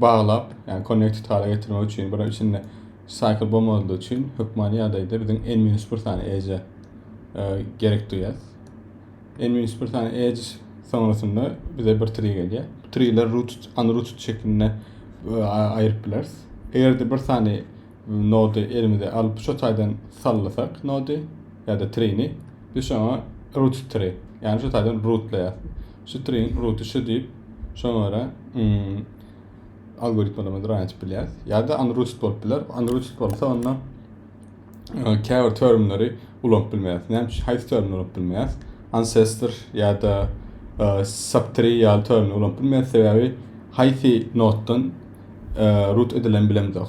baglap, ýagny connected hala getirmek üçin, bir içinde cycle bolmadygy üçin hökmany ýagdaýda biziň n-1 sany edge e, gerek duýýar. N-1 sany edge soňrasynda bize bir tree gelýär. Treeler rooted, unrooted şeklinde e, aýryp bileris. Eger-de bir sany nody elimize alyp şu taýdan sallasak nody ýa-da treeni, biz şoňa rooted tree, ýagny şu taýdan rootlaýar. String ruty şu diýip, şoňa görä algoritmlerimizi run etip bilýäris. Ýa-da unrooted bolup biler. Unrooted bolsa onda käbir termleri ulanyp bilmeýäris. Näme üçin? Haýsy termini ulanyp bilmeýäris? Ancestor ýa-da subtree ýaly termini ulanyp bilmeýäris, sebäbi haýsy notdan root edilen bilemzok.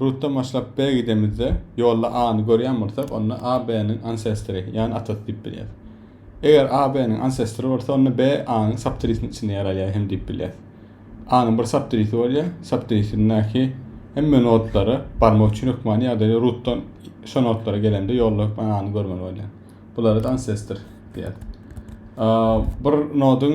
Rutdan başlap B gidemizde, ýolda A-ny görýän bolsak, onda A B-niň ansestry, ýagny atasy diýip bilýäris. Eger A B-niň ansestry bolsa, onda B A-nyň saptirisiniň içinde ýer alýar hem diýip bilýäris. A-nyň bir saptirisi bolýar, saptirisindäki hemme nodlara barmak üçin hökmany ýagdaýda rutdan şo nodlara gelende ýolda hökman A-ny görmeli bolýar. Bulara-da ansestr diýer. Bir nodyň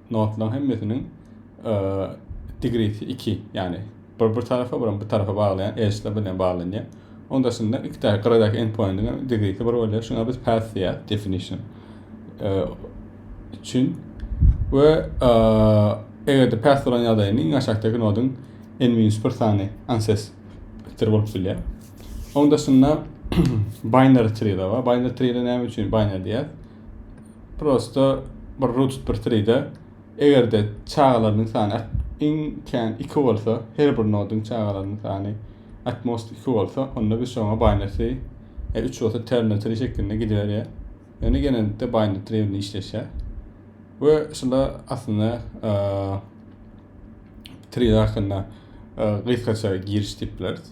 notlaryň hemmesiniň e, digresi 2, ýagny bir bir tarapa, bir bir tarapa baglaýan edge'ler bilen baglanýar. Onun daşynda iki tane gyradaky endpointiň hem digresi bir bolýar. Şuňa biz path diýýär, definition. E, üçin we e, eger-de path bolan ýagdaýynda iň aşakdaky noduň n-1 sany ancestor bolup bilýär. Onun daşynda binary tree-de bar. Binary tree-de näme üçin binary diýýär? prosta bir ruh tutup bir tride egerde çagalarynyň sany iň kän iki bolsa her bir noduň çagalarynyň sany at most iki bolsa onda biz şoňa binary e, üç bolsa terna tri şeklinde gidiberýär ýöne genellikde binary tri bilen işleşýär we şunda aslynda e, tri hakynda e, gysgaça giriş diýip bileris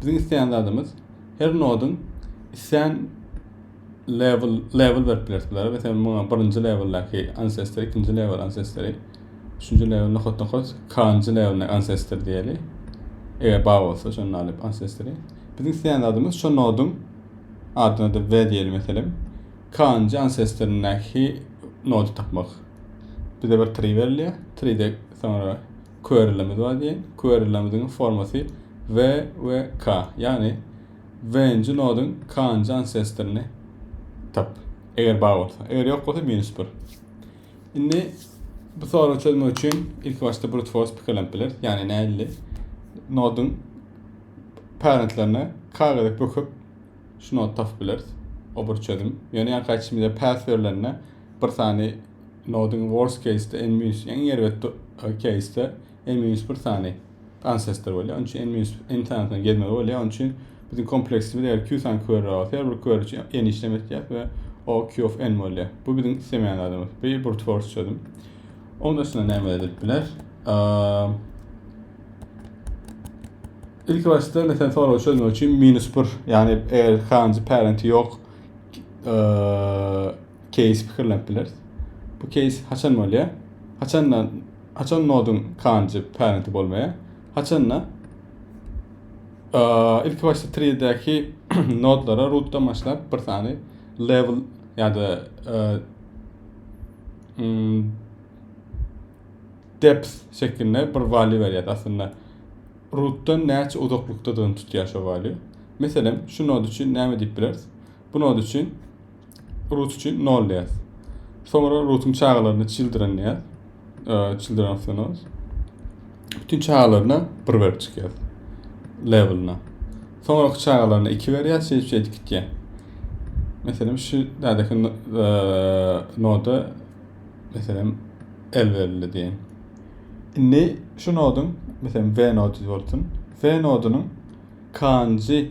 Biziň isleýän zadymyz her nodyň isleýän level level berip bileris bulara. Mesela muňa birinji leveldäki ancestor, ikinji level ancestor, üçünji level nohut nohut, kanjy levelindäki ancestor diýeli. Eger bar bolsa şonda alyp ancestor. Biziň isleýän zadymyz şu noduň adyna da V diýeli meselem. Kanjy ancestorindäki nody tapmak. Bize bir tree berilýär. Treede soňra Query'lerimiz bar diýiň. Query'lerimiziň formasy V we K. Ýagny V-nji noduň K-njy ansestoryny tap. Eger bar bolsa. Eger ýok bolsa minus bir. Indi bu soragy çözmek üçin ilki başda brute force pikirlenip bileris. Ýagny nädildi? Noduň parentlerine K gezek böküp şu nody tapyp bileris. O bir çözüm. Ýöne ýa gaýtşymyza pass berilende bir sany Nodyň worst case-de n minus iň erbet case-de n minus bir sany ancestor bolýar. Onuň üçin n minus n sanysyna gelmeli bolýar. Onuň üçin biziň kompleksimiz eger q sany query bolsa, her bir query üçin n işlem etýäris we o q of n bolýar. Bu biziň islemeýän zadymyz. Bu brute force çözüm. Oň dışynda näme edilip biler? İlk başda mesela soru çözmek için minus bir yani eğer kanji parenti yok keýsi pikirlenip bileris. Bu keýs haçan bolýar? Haçanda haçan noduň kanjy parenti bolmaýar? Haçanda ilki başda treedäki nodlara rootdan başlap bir sany level ýa-da mm, depth şeklinde bir value berýär. Aslynda rootdan näçe uzaklykdadygyny tutýar şu value. Meselem, şu nod üçin näme diýip bileris? Bu nod üçin Rut üçin nol diýýäs. Soňra Rutuň çagalaryny children diýýäs. Children of the nose. Bütün çagalaryna bir berip çykýas. Levelna. Soňra çagalaryna iki berýäs, şeýdip şeýdip gitýär. Meselem şu dädeki noda meselem el berildi diýen. Indi şu nodun, meselem V nody bolsun. V nodunyň kanjy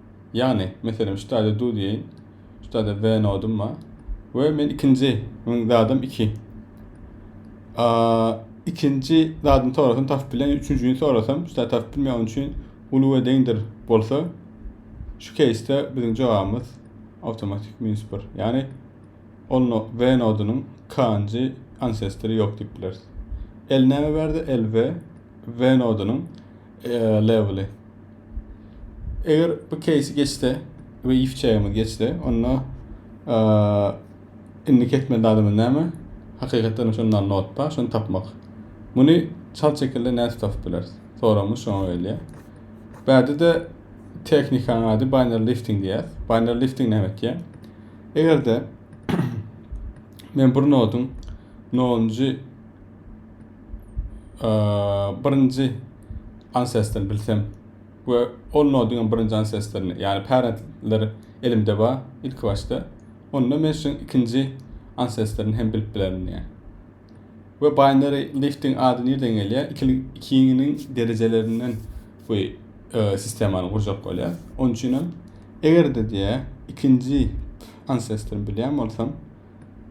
Ýagny, meselem, şu taýda du diýeýin, şu taýda we nodum bar we men ikinji meniň zadym iki. Ikinji zadyny sorasam tapyp bilen, üçünjini sorasam şu taýda tapyp bilmeýän üçin uly we deňdir bolsa şu keýsde biziň jogabymyz awtomatik minus bir. Ýagny, ol no, we nodunyň k-njy ansestory ýok diýip bileris. L näme berdi? L we we nodunyň Eee leveli. Eger bu case geçse we if çägimiz geçse, onda eee indi kesmeli adamyň näme? Hakykatdan şonun alny ot bar, şony tapmak. Muny çal çekilde näçe tapyp bileris? Soramyz şoňa gelýär. Bäde-de tehnikanyň ady binary lifting diýýär. Binary lifting näme etýär? Eger-de men bir noduň 0-njy birinji ancestrini bilsem we ol nodyň birinji ancestrini ýagny parentleri elimde bar ilki başda onda men şu ikinji ancestrini hem bilip bilerin diýýär we binary lifting ady nirden gelýär ikiniň derejelerinden bu e, sistemany gurjak bolýar onuň üçin hem eger-de diýýär ikinji ancestrini bilýän bolsam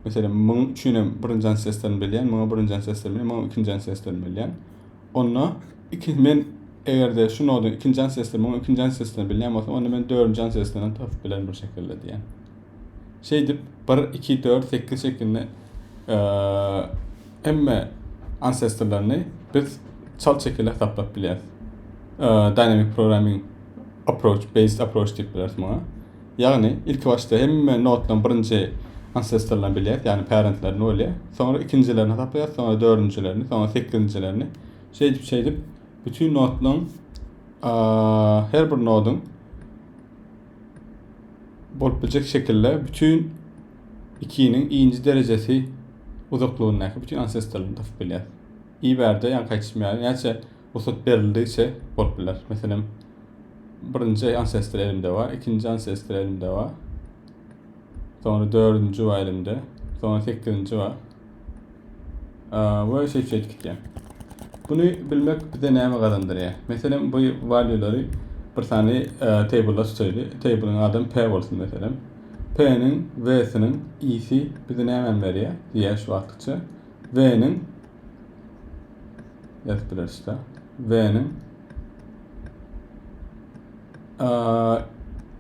Meselem, muň üçin hem birinji ansiýasdan bilýän, muňa birinji ansiýasdan bilýän, muňa ikinji ansiýasdan bilýän. Onda iki men eger-de şu noduň ikinji ansiýasdan, muňa ikinji ansiýasdan bilýän bolsam, onda men dördünji ansiýasdan hem tapyp bilerin bir şekilde diýýän. Şeýdip 1 2 4 8 şeklinde hemme ansiýaslarlaryny biz çalt şekilde hesaplap bilýäris. Dynamic programming approach, based approach diýip bileris muňa. Ýagny, ilkibaşda hemme notlaryň birinji ansestrlerini bilýäs, ýagny parentlerini bolýar. Soňra ikinjilerini hasaplaýas, soňra dördünjilerini, soňra sekizinjilerini. Şeýdip-şeýdip bütin notlaryň her bir noduň bolup biljek şekilde bütin ikiniň inji derejesi uzaklygyndaky bütin ansestrlerini tapyp bilýäs. Iberde ýaňky aýtýşym ýaly näçe Rugsat berildigiçe bolup biler. Meselem, birinji ancestor elimde bar, ikinji ancestor elimde bar. Soňra dördünji bar elimde. Soňra sekizinji bar. Ve şeýt şeýt gitýär. Bunu bilmek bize näme gazandyrýar? Meselem, bu valuelary bir sany table-a tutayly. Table-iň adam P bolsun meselem. P-niň, V-siniň, I-si bize nämäni berýär? Diýýär şu wagtkyça. V-niň F-birleşse. V-niň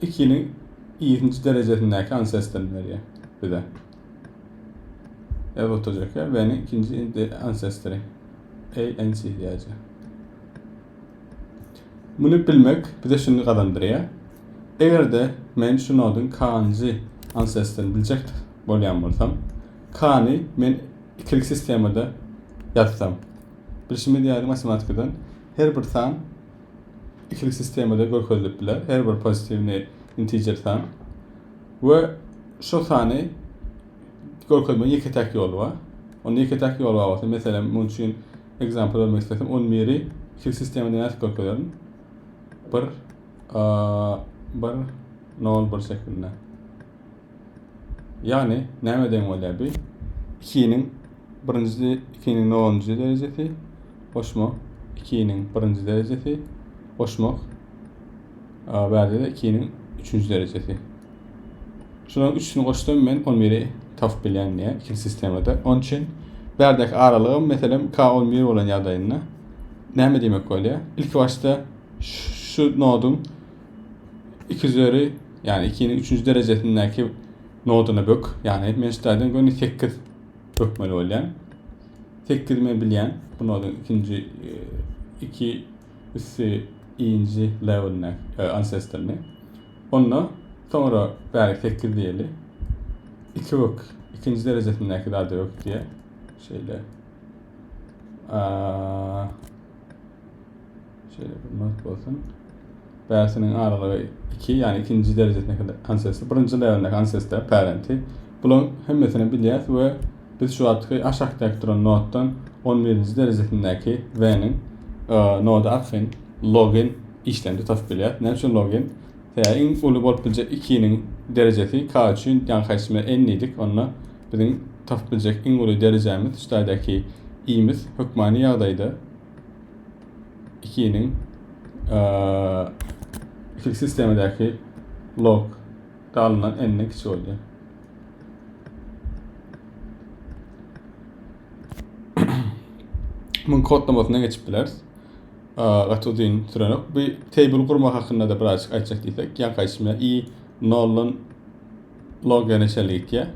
ikini iýisinci derejesindäki ansesden berýär bize. F oturjak ýer V-niň ikinji ansestri. ANC diýäje. Muny bilmek bize şuny gazandyrýar. Eger-de men şu noduň kanjy ansestrini biljek bolýan bolsam, kany men Ikili sistemada ýazsam. Bilşimiz ýaly matematikadan her bir san ikili sistemada görkezilip biler, her bir pozitiwny integer san we şo sany görkezmegiň ýeke-täk ýoly bar. Onda ýeke-täk ýol bar bolsa, meselem, munuň üçin example bermek islesem, 11-i ikili sistemada nädip görkezerin? 1 1 0 1 şeklinde. Ýagny näme deň bolýar bi? Ikiniň birinji ikiniň nolunjy derejesi goşma ikiniň birinji derejesi goşmak a, bärde-de ikiniň üçünji derejesi. Şularyň üçüsini goşsam men on biri tapyp bilýän diýýär ikinji sistemada. Onuň üçin bärdäki aralygym meselem k on bir bolan ýagdaýynda näme diýmek bolýar? Ilki başda şu noduň iki üzeri ýagny ikiniň üçünji derejesindäki noduny bök ýagny men ştaýdan göni sekiz bökmeli bolýan sekiz men bilýän bu noduň ikinji e, iki üsti inji levelini e, ancestrni onda soňra bäri sekiz diýeli iki bök ikinji derejesindäki zady bök diýe şeýle Şeýle bir not bolsun. Päresiniň aralygy 2, ýagny ikinji derejesindäki ansesler, birinji leweldäki ansesler, parenti. Bularyň hemmesini bilýäs we biz şu wagtky aşakdaky duran notdan 11-nji derejesindäki V-niň nody arkaýyn logen işlerini tutasyp bilýäs. Näme üçin logen? Sebäbi iň uly bolup biljek 2-niň derejesi k üçin, ýagny haýsy n diýdik, onda biziň tapyp biljek iň uly derejämiz şu taýdaki i-miz hökmany ýagdaýda 2-niň iki sistemadaki log dalyndan n-den kiçi bolýar. Muň kodlamasyna geçip bileris. Gaty uzyn sürenok. Bu table gurmak hakynda da birazcık aýtjak diýsek, ýaňky aýtmyş i noldan log ýerine çenli gitýär.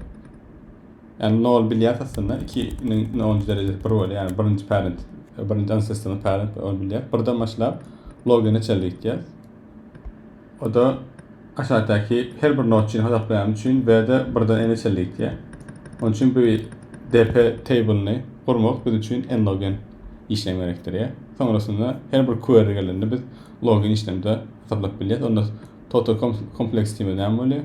Ýagny nol bilýär aslynda iki niň nji derejesi bir bolýar ýagny birinji parent birinji ancestryň parent ol bilýär birden başlap logga neçedir ýetýär oda aşakdaky her bir nod üçin hasaplaýan üçin bde birden n neçedir ýetýär onuň üçin bu dp table'ny gurmak biz üçin n log n işlem gerekdir ýa soňrasynda her bir query gelende biz log n işlemde hasaplap bilýär onda total kompleks diýmez näme bolýar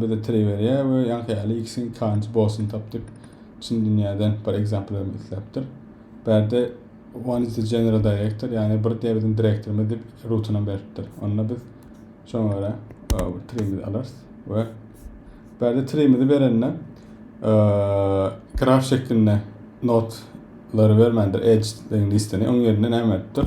Bize Treýwerýa we ýaňkyýaly ikisiniň kanjy bosun tapdyk. Çyn dünýäden bir example bermek isläpdir. Bärde one is the general director, ýagny bir diýe biziň direktorymyz diýip rutunam beripdir. Onda biz şoňa görä treýimizi alarys we bärde treýimizi berende graf şeklinde not lary bermändir edge deň listini oň ýerine näme beripdir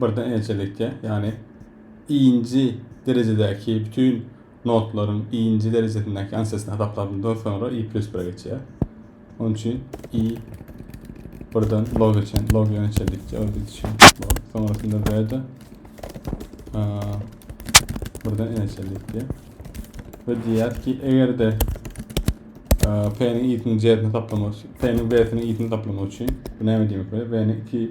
Birden ençelikde, ýagny I-nji derejedäki bütin notlaryň I-nji derejesindäki ansesini hasaplandan soňra I plýus bire geçýär. Onuň üçin I birden log geçen, log ýa ençelikde ol gidişen log. Soňrasynda B-de birden ençelikde. Ve diýýär ki, eger-de P-niň I-siniň J-sini taplamak üçin, P-niň B-siniň I-sini taplamak üçin, bu näme diýmek bolýar? B-niň 2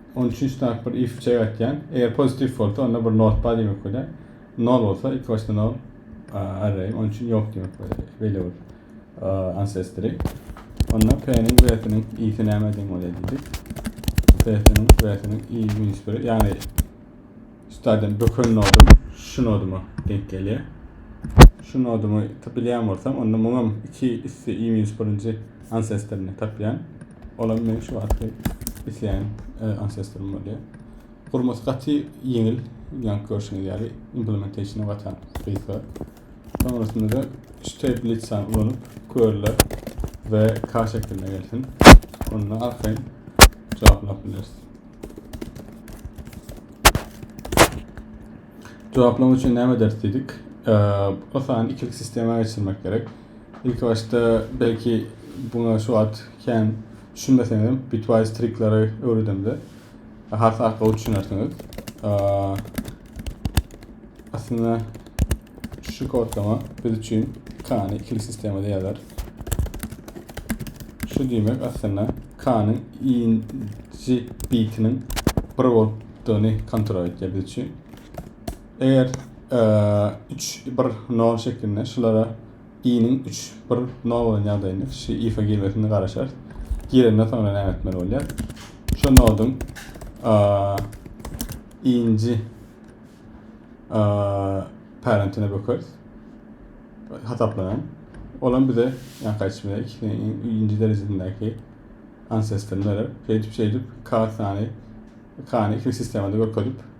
Onuň üçin şu taýyp bir if çek aýtýan. Eger positif bolsa onda bir not bar diýmek bolýar. Nol bolsa iki başda nol array. Onuň üçin ýok diýmek bolýar. Beýle bir ancestry. Onda p-niň w-siniň i-si näme deň bolýar diýdik. P-siniň w-siniň i minus 1 ýagny üstaden böken nodum şu noduma deň gelýär. Şu nodumy bilýän bolsam, onda muňam 2 üsti i minus 1-nji ancestryny tapýan. Olam meň şu wagtky isleýän e, ancestrym bolýar. Gurmasy gaty ýeňil, ýaňky görşüňiz ýaly implementationy gaty gysga. Soňrasynda-da şteblitsany ulanyp körler we K şekline gelsin. Onda arkaýyn jogaplap bileris. Jogaplamak üçin näme ederis diýdik? E, o sany ikilik sistema geçirmek gerek. Ilki başda belki buňa şu wagt kän düşünmeseňizem bitwise trikleri öwredemde has arkaly düşünersiňiz. Aslynda şu kodlama biz üçin kany ikili sistemada ýazar. Şu diýmek aslynda kanyň inji bitiniň bir bolupdygyny kontrol etýär biz üçin. Eger üç bir nol şeklinde şulara i-niň üç bir nol bolan ýagdaýynda kişi ifa girmesini garaşar. Girenden soňra näme etmeli bolýar? Şu noduň inji parentine bökeris. Hasaplanan. Olam bize yani kaçmaya inci derecesindeki ancestorlar. Şeýdip şeýdip k sany kany iki sistemada görkezip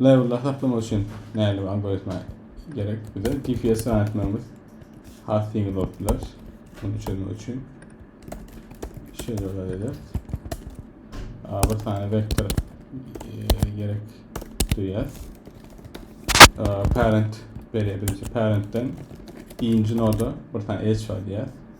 Labelleri saklamak üçin nähili bir algoritma gerek bize? GPS ýan etmegimiz has ýeňil bolup biler. Muny çözmek üçin şeýle zat ederis. Bir sany vektor e, gerek duýýas. Parent berýär birinji parentden ikinji noda bir sany edge bar diýýär.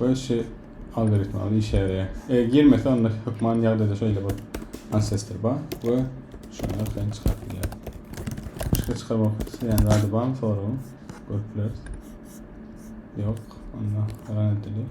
Bu şu algoritm al işe ýaraýar. E, girmese onda hökman ýagdaýda şeýle bir ancestor bar we şony arkaýyn çykaryp bilýär. Başga çykarmak isleýän zady barmy soragyň? Görüp bileris. Ýok, onda ran edilýär.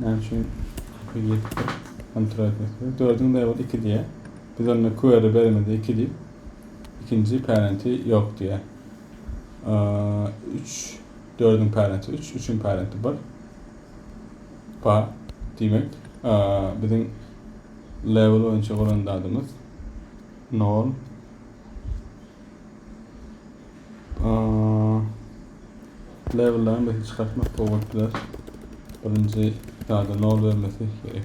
Näme üçin iki ýetipdir? Kontrol etmek gerek. Dördiň daýy boldy iki diýýär. Biz onda query berimizde iki diýip, ikinji parenti ýok diýýär. Üç, dördiň parenti üç, üçiň parenti bir. Pa, diýmek, biziň level boýunça bolan zadymyz nol. Levellerini beti çykartmak gowy bolup biler. Birinji ýa-da nol bermesi gerek.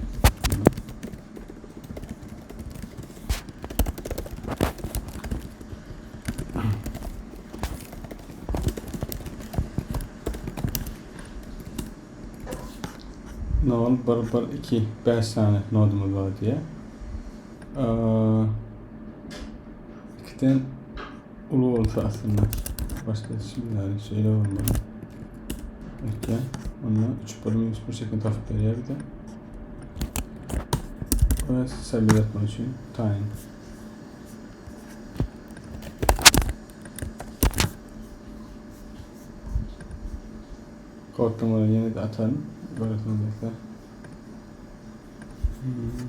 Nol, bir, bir, iki, beş saniye nodumuz var diye. Ee, ikiden Uly bolsa aslynda başga hiç kim ýaly şeýle bolmaly. Ekýä. Onda 3 bir minus 1 şeklinde tapyp berýär bize. Ve sebir etmek için time. Koddan olan yeni de atalım. Böyle sonrasında. Hmm.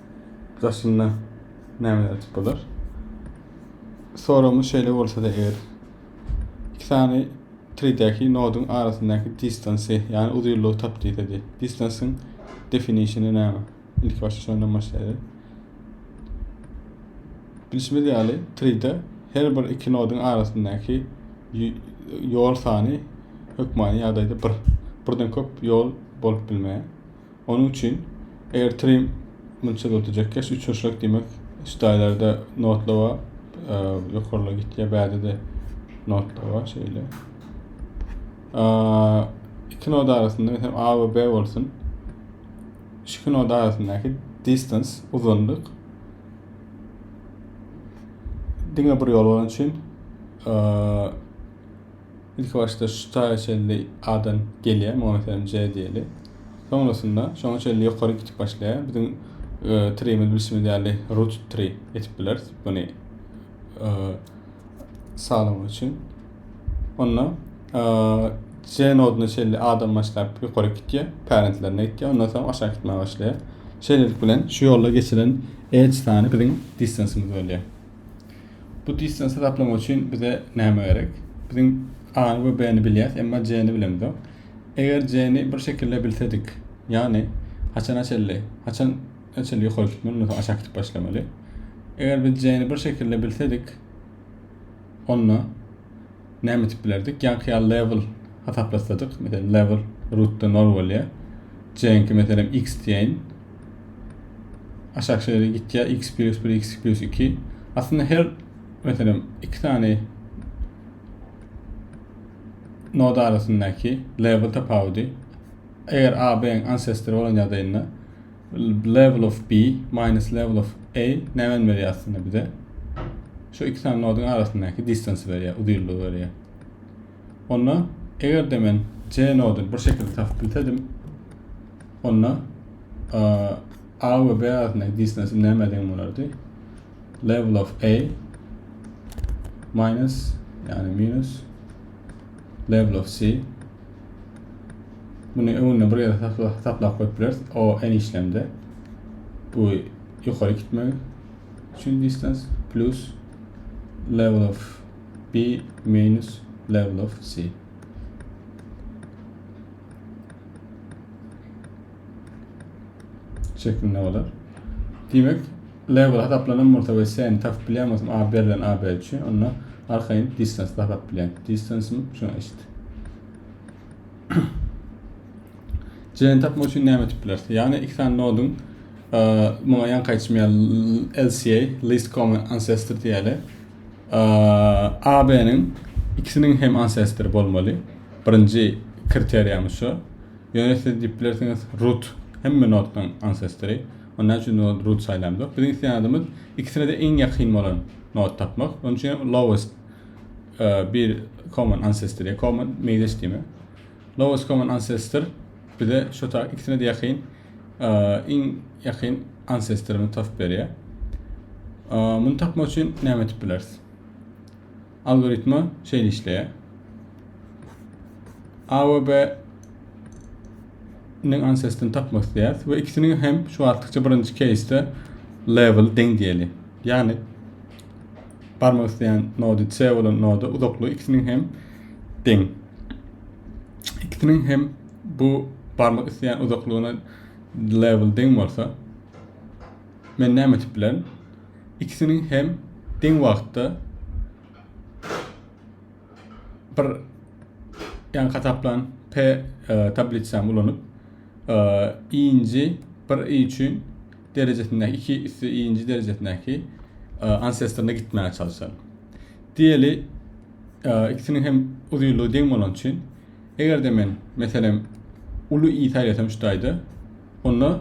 Daşynda näme ýazyp bolar? Soragymyz şeýle bolsa-da eger iki sany treedäki noduň arasyndaky distansy, ýagny uzynlygy tap diýse diý. Distansyň definitiony näme? Ilki başda şondan başlaýarys. Bilşimiz ýaly, treede her bir iki noduň arasyndaky ýol sany hökmany ýagdaýda bir. Birden köp ýol bolup bilmeýär. Onuň üçin Airtrim munça zat edýärkä, şu üçünçilik diýmek, üstaýlarda notla bar, ýokarla gitýär, bärde-de notla bar şeýle. Iki noda arasynda hem A we B bolsun. Şu noda arasyndaky distance, uzynlyk diňe bir ýol bolan üçin Ilki başda şu taýa çenli adam gelýär, muňa meselem J diýeli. Soňrasynda şoňa çenli ýokary gitip başlaýar. Biziň treýimiz bilşimiz ýaly root tree edip bileris muny sazlamak üçin. Onda J noduna çenli adam başlap ýokary gitýär, parentlerine gitýär, ondan soň aşak gitmäge başlaýar. Şeýlelik bilen şu ýolda geçilen edge sany biziň distance'ymyz bolýar. Bu distans hesaplamak üçin bize näme gerek? Biziň A-ny we B-ni bilýäs, emma C-ni bilemizok. Eger C-ni bir şekilde bilsedik, ýagny haçana çenli, haçan çenli ýokary gitmeli, ondan soň aşak gidip başlamaly. Eger biz C-ni bir şekilde bilsedik, onda näme edip bilerdik? Ýaňky ýaly level hasaplasadyk, meselem level rootda 0 bolýar. Jeňki meselem x diýeýin. Aşak şeýle gitýär x plus 1 x plus 2. Aslynda her meselem iki sany nod arasyndaky level tapawudy eger AB ancestor bolan ýagdaýynda Level of B minus level of A näme men berýär aslynda bize? Şu iki sany nodyň arasyndaky distance berýär, uzynlygy berýär. Onda eger de men C nodyny bir şekilde tapyp bilsedim, onda A we B arasyndaky distance näme deň bolardy? Level of A minus, yani minus level of C Muny öňünde bir ýere saklap goýup bileris. O en işlemde. Bu ýokary gitmegi üçin distans plus level of B minus level of C. Şeklinde bolar. Diýmek, Label hasaplanan bolsa we sen tapyp bilýän bolsaň a berlen a b üçin onda arkaýyn distance tapyp bilýän. Distance şuna eşit. Jeni tapmak üçin näme etip bilersiň? Ýagny iki sany noduň muňa ýan kaýçmýa LCA, least common ancestor diýeli. AB-niň ikisiniň hem ancestor bolmaly. Birinji kriteriýamyz şu. Ýöne siz diýip bilersiňiz root hemme noddan ancestory. Onda näme üçin root saýlamzok? Biziň isleýänadymyz ikisine-de iň ýakyn bolan nod tapmak. Onuň üçin hem lowest bir common ancestor, common meýleş diýme. Lowest common ancestor bize şu tak ikisine-de ýakyn iň ýakyn ancestoryny tapyp berýär. Muny tapmak üçin näme edip bileris? Algoritma şeýle işleýär. A we B niň ancestini tapmak isleýäris we ikisiniň hem şu wagtlykça birinji keýsde level deň diýeli. Ýagny barmak isleýän nody C bolan noda uzaklygy ikisiniň hem deň. Ikisiniň hem bu barmak isleýän uzaklygyna level deň bolsa men näme etip bilerin? ikisiniň hem deň wagtda bir ýan hasaplan P e, tablisany ulanyp e, i-nji bir i üçin derejesindäki iki üstü i-nji derejesindäki e, ansestrine gitmäge çalyşaly. Diýeli, e, ikisiniň hem uzynlygy deň bolan üçin Eger-de men, meselem, uly i saýlasam şu taýda, onda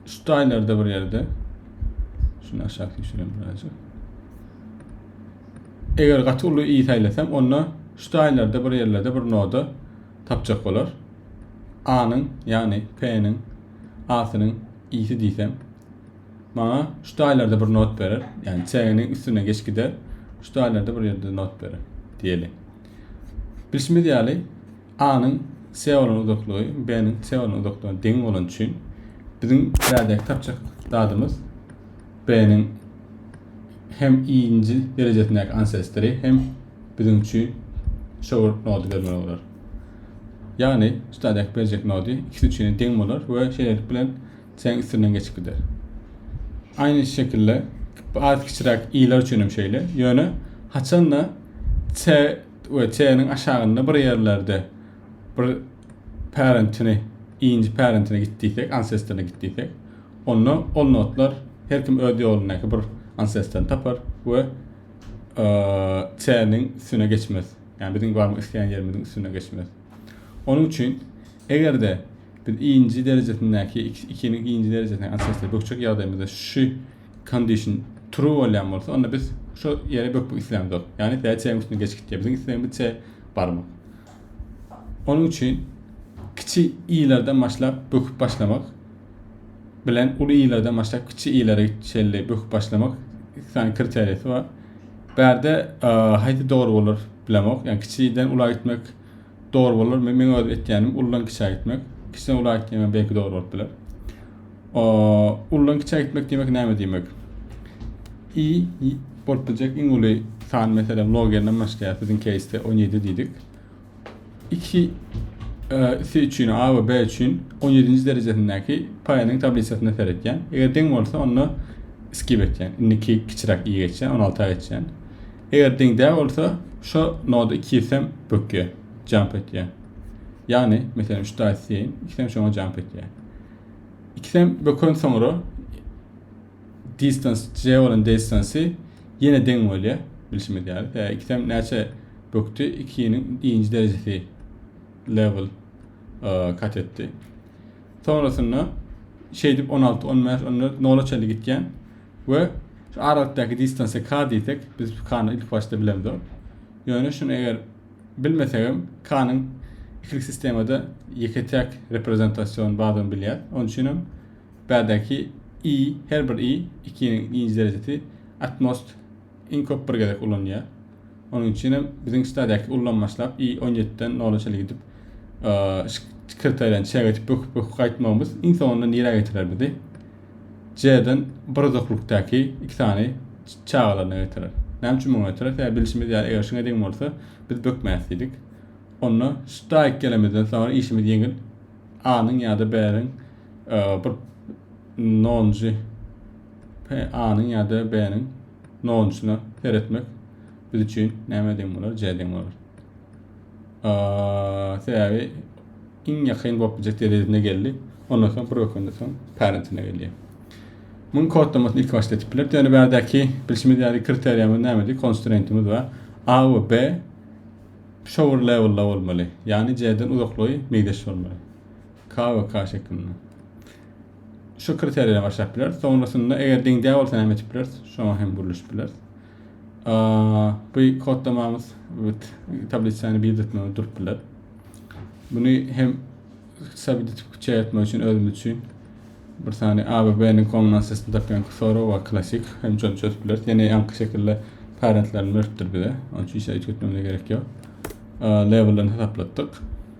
şu taýlarda bir ýerde şuny aşak düşürem birazjyk. Eger gaty uly i saýlasam, onda şu taýlarda bir ýerlerde bir noda tapjak bolar. A-nyň, ýagny P-niň A-synyň i-si diýsem, maňa şu taýlarda bir not berer. Ýagny C-niň üstüne geçip gider. Şu taýlarda bir ýerde not berer diýeli. Bilşimiz ýaly, A-nyň C bolan uzaklygy B-niň C bolan uzaklygyna deň bolany üçin biziň bärdäki tapjak zadymyz B-niň hem i-nji derejesindäki ansestory hem biziň üçin şower nody bermeli bolar. Ýagny, üstadäki berjek nody ikisi üçin deň bolar we şeýlelik bilen Seň üstünden geçip gider. Aýny şekilde az kiçiräk i-ler üçin hem şeýle. Ýöne haçanda t we t-niň aşagynda bir ýerlerde bir parentini, i-nji parentine git diýsek, ancestoryna git diýsek, onda ol notlar her kim öz ýolundaky bir ancestoryny tapar we t-niň üstüne geçmez. Ýagny biziň barmak isleýän ýerimiziň üstüne geçmez. Onuň üçin eger-de Biz I-nji derejesindäki ikini I-nji derejesindäki açyşda bökjek ýagdaýymyzda şu condition true bolýan bolsa, onda biz şu ýere bökmek islämzok. Ýagny tä çägiň üstüne geçip gitýär. Biziň islegimiz çä barmak. Onuň üçin kiçi i-lerden başlap böküp başlamak bilen uly i-lerden başlap kiçi i-lere çenli böküp başlamak iki sany kriteriýasy bar. Bärde haýsy dogry bolar bilemok. Ýagny kiçiden ula gitmek Dogry bolar. Men men öz etýänim uludan kiçä gitmek. Kiçiden ula gitýäňem belki dogry bolup biler. O uludan kiçä gitmek diýmek näme diýmek? I bolup biljek iň uly san meselem logerden başlaýar. Biziň keýsde 17 diýdik. 2 isi e, üçin A we B üçin 17-nji derejesindäki paýanyň tablisasyna seretýän. Eger deň bolsa onda skip etýän. Indiki kiçiräk i geçýän, 16-a geçýän. Eger deň däl bolsa, şo noda ikisem bökýär, jump etýär. Ýagny, meselem, üç daýy isleýin, ikisem şoňa jump etýär. Ikisem böken soňra distans, j bolan distansy ýene deň bolýar, bilşimiz ýaly. Ýa ikisem näçe bökdi, ikiniň iýinji derejesi level kat etdi. Soňrasynda şeýdip 16, 15, 14, nola çenli gitýän. We şu aralyktaki distansiýa k diýsek, biz k-ny ilkibaşda bilemzok. Ýöne şuny eger bilmesegem k-nyň ikilik sistemada ýeke-täk reprezentasion bardygyny bilýäs. Onuň üçin hem bärdäki i, her bir i, ikiniň nji derejesi atmost iň köp bir gezek ulanylýar. Onuň üçin hem biziň stadýaky ullam başlap i on ýediden nola çenli gidip sekretariýany çäk edip böküp böküp gaýtmagymyz iň soňunda nirä getirer bizi c-den bir uzaklykdaky iki sany çagalaryna getirer näme üçin muňa getirer sebäbi bilşimiz ýaly eger şuňa deň bolsa biz bökmäs diýdik onda staýk gelemizden soňra işimiz ýeňil a-nyň ýa-da b-niň bir nonjy p-a-nyň ýa-da b-niň nonçuna seretmek biz üçin näme deň bolar? J deň bolar. Sebäbi iň ýakyn bolup biljek derejesine geldi. Ondan soň bir ökünde soň parentine gelýär. Muň kodlamasyny ilk başda etip biler. Ýöne bärdäki bilşimiz ýaly kriteriýamyz nämedi? Konstrentimiz we A we B shower levelda bolmaly. Ýagny J-den uzaklygy meýdeş bolmaly. K we K şeklinde. şu kriteriýa başlap bileris. Soňrasynda eger deň däl bolsa näme etip bileris? Şoňa hem gurluşyp bileris. Bu kodlamamyz tablisany bir etmegi durup biler. Bunu hem sabit etip şey etmek için özümüz için bir sani ABB-niň kombinasiyasını tapýan Xoro we klasik hem çözüp çözüp bileris. Ýene ýaňky şekilde parentlerini beripdir bize. Onun için hiç etmemize gerek yok. Level'dan hesaplatdyk.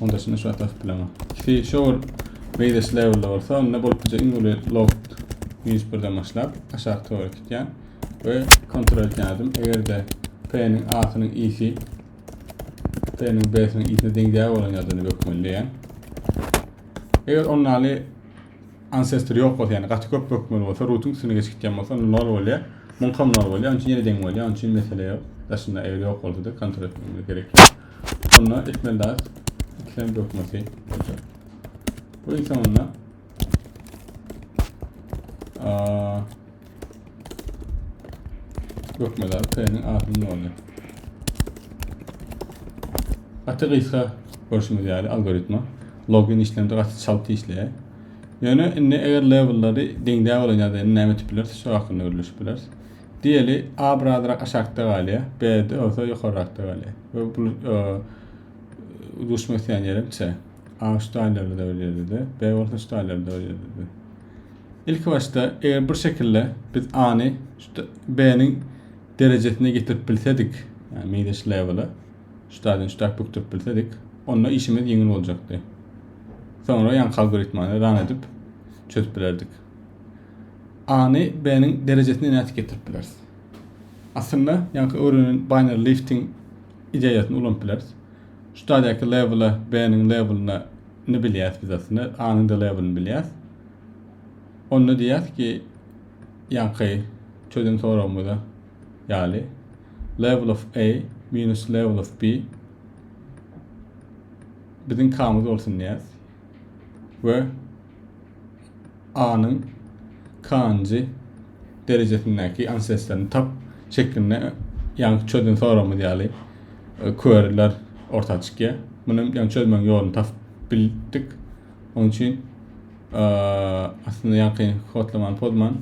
Onda şunu şu atasyp bilemok. Ki şor beýleş levelda bolsa, onda bolup bize iň uly loft hiç birden başlap aşak tora gitýän we kontrol etýän adam eger-de P-niň A-synyň isi P-niň B-synyň isine deňdäge bolan ýagdaýynda bökmeli diýýän. Eger onnaly Ancestor ýok bolsa ýagny gaty köp bökmeli bolsa rutyň üstüne geçip gitýän bolsa onda nol bolýar. Muňkam nol bolýar. Oň üçin ýene deň bolýar. Oň üçin mesele ýok. Daşynda eger ýok bolsada kontrol etmegimiz gerek ýok. Onda etmeli zat ikisem bökmesi bolýar. Bu ýa onda Gökmedar P-niň ahyny ýoly. Gaty gysga görşüňiz ýaly algoritma. Login işlemde gaty çalt işleýär. Ýöne indi eger levellary deňdä bolan ýagdaýda indi näme etip bileris? Şu hakynda gürleşip bileris. Diýeli A birazrak aşakda galýar, B de bolsa ýokarrakda galýar. We bu duşmak isleýän ýerim C. A şu daýlarda bir ýerde, B bolsa şu daýlarda bir ýerde. Ilki başda eger bir şekilde biz A-ny şu B-niň derejesine getirip bilsedik, yani Midas level-a şu taýdan şu taýdan bükdirip bilsedik, onda işimiz ýeňil boljakdy. Soňra ýaňky algoritmany run edip çözüp bilerdik. A-ny B-niň derejesine nädip getirip bileris? Aslynda ýaňky öwrenen binary lifting ideýasyny ulanyp bileris. Şu taýdaky label-a B-niň label-yna ni bilýäs biz aslynda, A-nyň-da label-ini bilýäs. Onda diýýäs ki, ýaňky çözen soragymyza ýaly label of A minus label of B biziň K-myz bolsun diýýäs we A-nyň K-njy derejesindäki anseslaryny tap şeklinde ýaňky çözen soragymyz ýaly e, queryler orta çykýar. Muny ýaňky çözmegiň ýoluny tapyp bildik. Onuň üçin e, aslynda ýaňky kodlamany pozman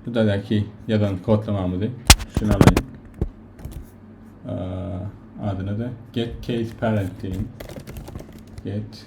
bu dadäki ýazan kodlamamyzy üstüne alaýyn. E, adyna da get case parent diýeýin. Get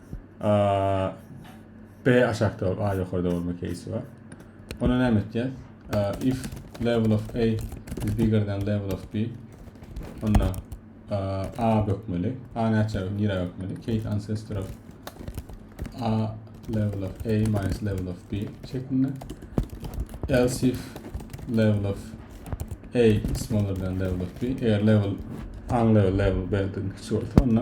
A, B aşakda bolup, A ýokarda bolma keýsi bar. Ona näme etýäs? If level of A is bigger than level of B, onda A bökmeli. A näçe nira bökmeli? Keýs ancestor of A level of A minus level of B şeklinde. Else if level of A is smaller than level of B, eger level A level level B-den kiçi bolsa, onda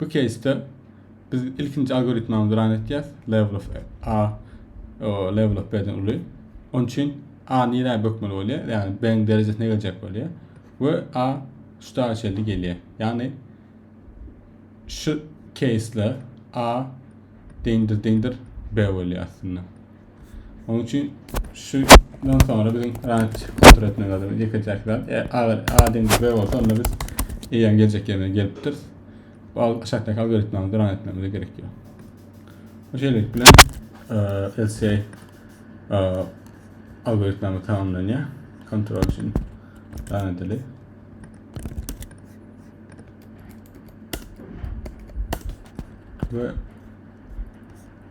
Bu keýsde biz ilkinji algoritmamyzy ran etýäs. Level of A o, level of B-den uly. Onun üçin A nirä bökmeli bolýar? Ýagny B-niň derejesine geljek bolýar. Ve A şu dagy şeýle gelýär. Ýagny şu keýsde A deňdir deňdir B bolýar aslynda. Onuň üçin şundan sonra biziň ranç kontrol etmek lazym. Ýeke täk zat. E, agyr adam gübe bolsa onda biz eýäň geljek ýerine gelipdir. Bal aşakdaky algoritmamyzda ran etmemize gerek ýok. Bu şeýlelik bilen e, LCA e, algoritmamyz tamamlanýar. Kontrol üçin ran edeli. Ve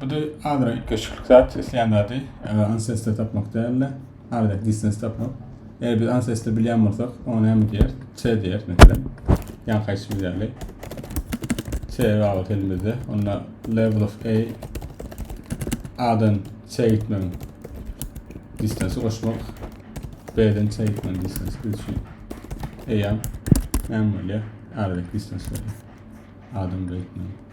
Bu da azrak üýtgeşiklik zat, islän zady ancestor tapmak dälde, azrak distance tapmak. Eger biz ancestor bilýän bolsak, oňa näme diýer? C diýer, meselem. Ýa kaýsy ýaly. C gabat elimizde. Onda level of A A-dan C gitmegiň distancy goşmak. B-den C gitmegiň distancy biz üçin. Eýýäm näme bolýar? Azrak distance bolýar. A-dan B gitmegiň.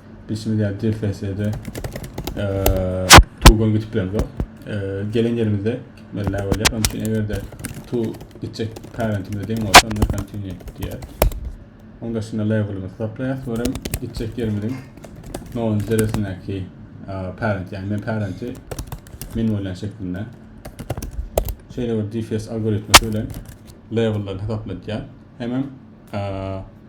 Bilşimiz ýaly ders sessiýada tugan gitip bilemzok. Gelen ýerimizde gitmeli bolýar. Onuň üçin eger-de tu gitjek parentimize deň bolsa, onda continue diýer. Oň daşynda labelimizi toplaýar. Sonra gitjek ýerimiziň nowunjy deresindäki parent, ýagny men parenti men bolýan şeklinde. Şeýle bir DFS algoritmi bilen labelleri hasaplatýar. Hemem